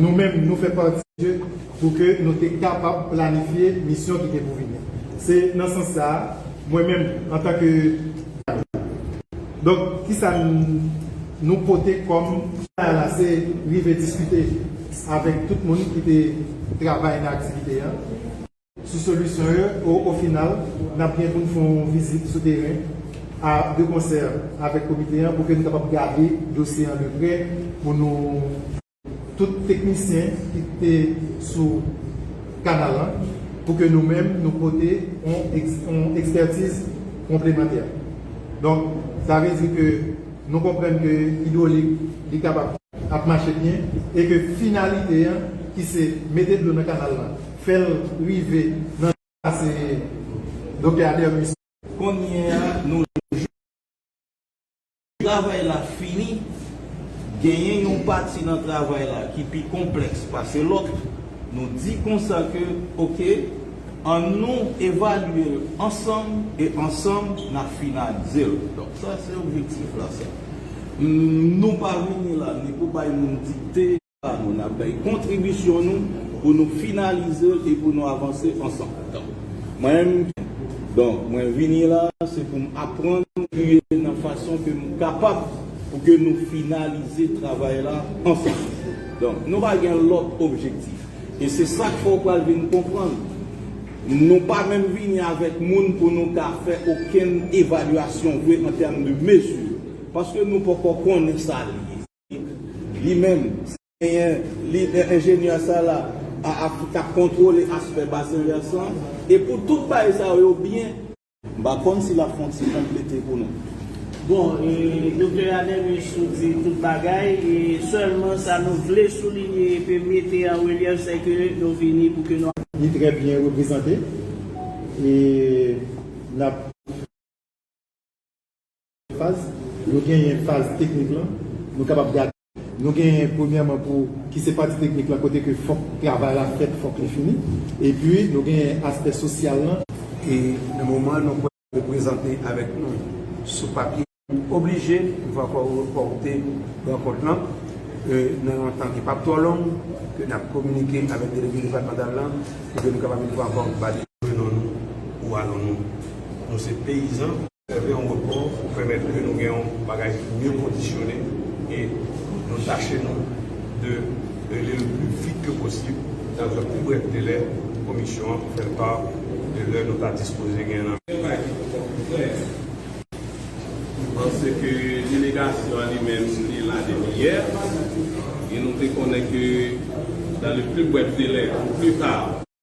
Nou menm nou fè pati de pou ke nou te kapab planifye misyon ki te pou vini. Se nan sans sa a, mwen menm antan ke Kanaran. Donk, kisa nou pote kòm. Sa la se rive diskite avèk tout moun ki te travay nan aktivite a. sou solisyon yo e o final n ap gen pou n fè yon vizit sou teren a de konsè avèk komite an pou ke n kapab gade dosye an de prè pou nou tout teknisyen ki te sou kanal lan pou ke nou menm nou pote yon ekspètiz konplemantè donk sa vle di ke nou konprann ke idwolik li kapab. ap mache byen e ke finalite an ki se mete dlo nan kanal la fè l rive nan kase Doktè Ader Mussa. Konnye a nou jwenn travay la fini, genyen yon pati nan travay la ki pi konplèks pase lòt, nou di konsa ke ok an nou evalye l ansanm e ansanm n ap finalize l. Sa se objektif la sa. Nou pa vini la ni pou bay moun dikte. Pa nou. Nap bay kontribisyon nou pou nou finalize l e pou nou avanse ansanm. Donk mwen menm m. Donk mwen vini la se pou m aprann. Triye nan fason ke m kapab pou ke nou finalize travay la ansanm. Donk nou pa gen lòt objektif. E se sa k fè w pral vin konprann. Nou pa menm vini avèk moun pou nou ka fè okenn evalyasyon vre an tèm de mezi, paske nou poko konnen sa li ye. Li menm, si genyen, li e enjenyè sa la a ki ka kontwole aspè basen vèsan e pou tout bagay sa yo byen. M pa konn si lap fon ti konplete pou nou. Bon e Doktè Anemis ou di tout bagay e sèlman sa nou vle soulinye epi mete an relyèf sè ke nou vini pou ke nou. Li trè byen reprezante e nap. Faz, yo genyen faz teknik lan, nou kapab gade. Nou genyen premyèman pou ki se pati teknik lan kote ke fòk travay la fèt, fòk li fini. Epi nou genyen aspè sosyal lan. E nan moman nou pral reprezante avèk nou sou papye. Ou oblije pou va fè repòte rankont lan nan yon tan ki pap twò long ke nap kominike avèk delege depatmantal lan pou ke nou kapab une fwa ankò ba li. Prenon nou ou anon nou. Nou se peyizan. Sèvi an repò pou pèmèt ke nou gen yon bagay ki mye kondisyone e nou tache nou de rele l pli vit ke posib nan tan pi brèf delè pou Komisyon an pou fè l pa de lè nou ta dispoze gen nan Yon bagay ki poko klè, nou panse ke delegasyon an li menm li te la depi yè e nou te konnen ke dan le pli brèf delè, au plus tard,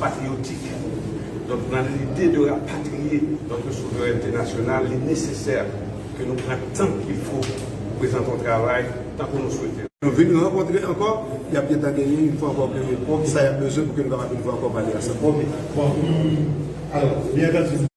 Patriyotik, donk nan lide de rapatriye notre souveraineté nationale, li nesesè ke nou pran tan ki fo pou prezante yon travay tankou nou swete. Nou vin rankontre ankò, y ap gentan genyen yon fwa ankò ke poukisa y ap bezwen pou ke nou kapab yon fwa ankò pale ansanm. Ok, bon, alò, byen antandi.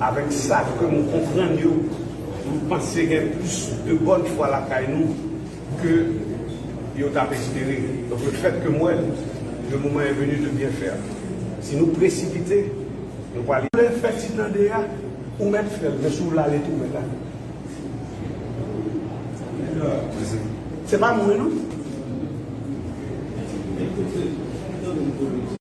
Avèk sa ke nou konprann yo, nou panse gen plis de bòn fwa lakay nou ke yo tap espere. Donk le fèt ke m wè le moman è venu de byen fè. Si nou presipite, nou pwale. Vle fè ti tande a, ou mèt fè l, men si w vle ale tou mèt ale. Se pa mwen non.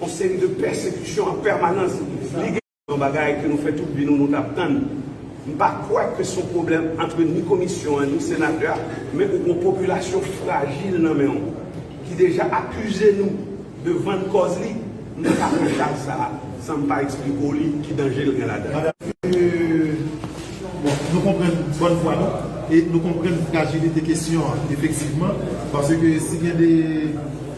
Yon seri de pèsekisyon an pèmanans, li gen. Yon bagay ke nou fè tout vi nou, nou tap tann. M pa kwè ke son pwoblèm antre ni komisyon an ni senatè a, men ou gon popilasyon frajil nan menw ki deja akize nou de vann kòz li, m pa ka fè chaj sa a san m pa eksplike w li ki danje l gen ladan l. Bon, nou konprann bòn fwa nou, e nou konprann frajilite kesyon an efektivman, paske si gen de.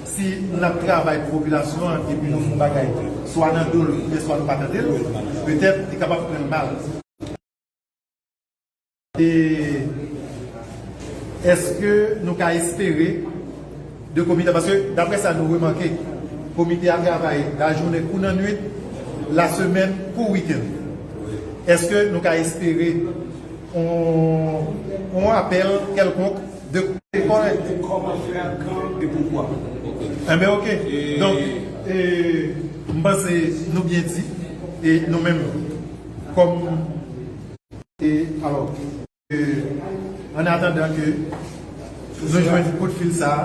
Si n ap travay pou popilasyon an epi nou fè yon bagay swa nan do l oubyen swa nou pa tande l, petèt li kapab pran l mal. E èske nou ka espere de komite a? Paske daprè sa nou remake, komite a travay lajounen kou nan nuit, lasemèn kou wikenn. Èske nou ka espere yon apèl kèlkonk? Depi lekòl li te kòmanse ak kan e poukwa. Enben ok. Donk m panse nou byen di e nou menm kòm e alò ke an atandan ke nou jwenn kout fil sa a.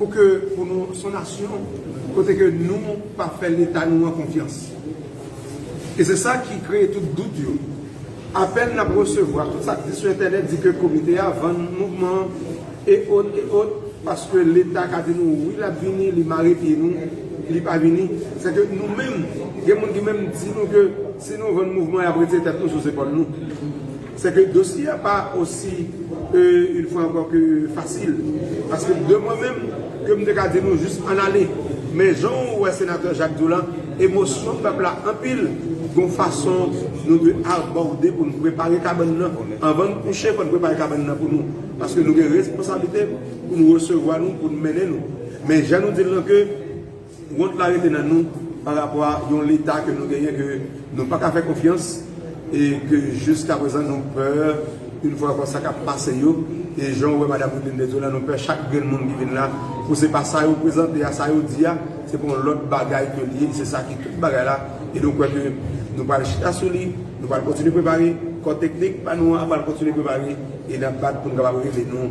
Pou ke pou nou son nasyon kote ke nou pa fè leta nou an konfyans. E se sa ki kreye tout dout yo. Apèl n ap resevwa, tout sa k di sou entènèt di ke komite a vann mouvman an e ot e ot paske leta ka di nou wi l ap vini li mare pye nou li pa vini. Se ke nou menm gen moun ki menm di nou ke si nou vann mouvman y ap retire tèt nou sou zepòl nou. Se ke dosye a pa osi, une fois encore, ke fasil. Paske de mwen menm, ke m te ka di nou jis ann ale. Men jan ou wè Senatè Jacques di w la, emosyon pèp la anpil, gon fason nou dwe abòde pou n prepare kabann nan. Anvan n kouche, fò n prepare kabann nan pou nou. Paske nou gen responsablite pou nou resevwa nou, pou nou mennen nou. Men jan nou di l lan ke. Wont la rete nan nou pa rapò a yon leta ke nou genyen ke nou pa ka fè konfyans e ke jiskaprezan nou pè yon fwa ankò sa kap pase yo e jan ou wè madam Wideline Desseaux la nou pè chak grenn moun ki vin la pou se pa sa yo prezante a, sa yo di a se pa yon lòt bagay ke li ye, se sa ki tout bagay la e nou kwè ke nou pral chita sou li nou pral kontinye prepare, kò teknik pa nou an pral kontinye prepare e nap bat pou nou kapab rive nou.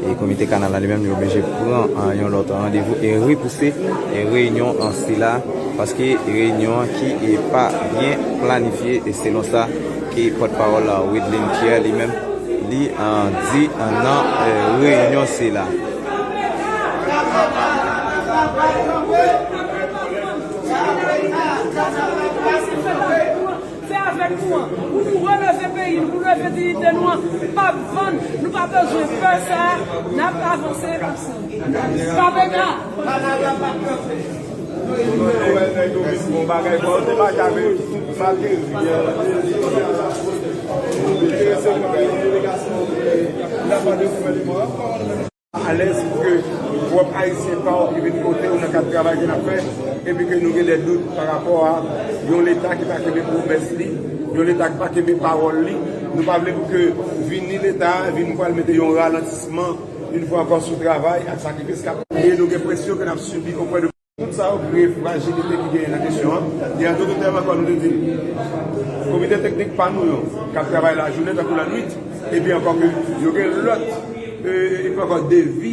E komite kanal la li menm li oblije pran yon lòt randevou e repouse reyinyon sila paske reyinyon an ki pa byen planifye e selon sa ki pòt pawòl Wideline Pierre li menm li di nan reyinyon sila. Fè avèk nou an pou nou releve peyi nou pou nou leve diyite nou an pap vann nou pa bezwen pè sa nap avanse ansanm Pamela Panaga pap kanpe. Alèz pou ke pwòp Ayisyen pa w ki vin kote w nan kad travay ke n ap fè epi ke nou gen dè dout pa rapò a yon Leta ki pa kenbe pwomès li, yon Leta ki pa kenbe pawòl li. Nou pa vle pou ke vini Leta a vin pral mete yon ralantisman, yon fwa ankò, sou travay ak sakrifis k ap. E nou gen presyon ke n ap sibi opwè de. Tout sa yo kreye frajilite ki genyen nan kesyon an, e entodotèman kon nou te di l, komite teknik pa nou yo k ap travay lajounen tankou lannwit, epi ankò ke yo gen lòt, epi ankò devi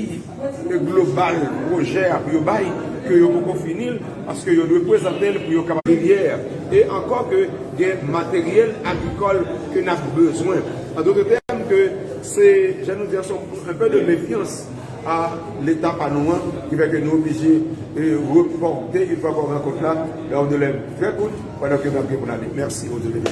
global pwojè a pou yo bay ke yo poko fini l, paske yo dwe pwezante l pou yo kapab. Rivyè, e ankò ke gen materyèl agrikòl ke n ap bezwen. Entodotèm ke se, jan nou di an, se yon enpe de mefyans. a leta pa nou an ki fè ke nou oblije repòte yon fwa ankò rankont la nan yon delè trè kout pandan ke n ap gen pou n ale. Mèsi Odyo Vena.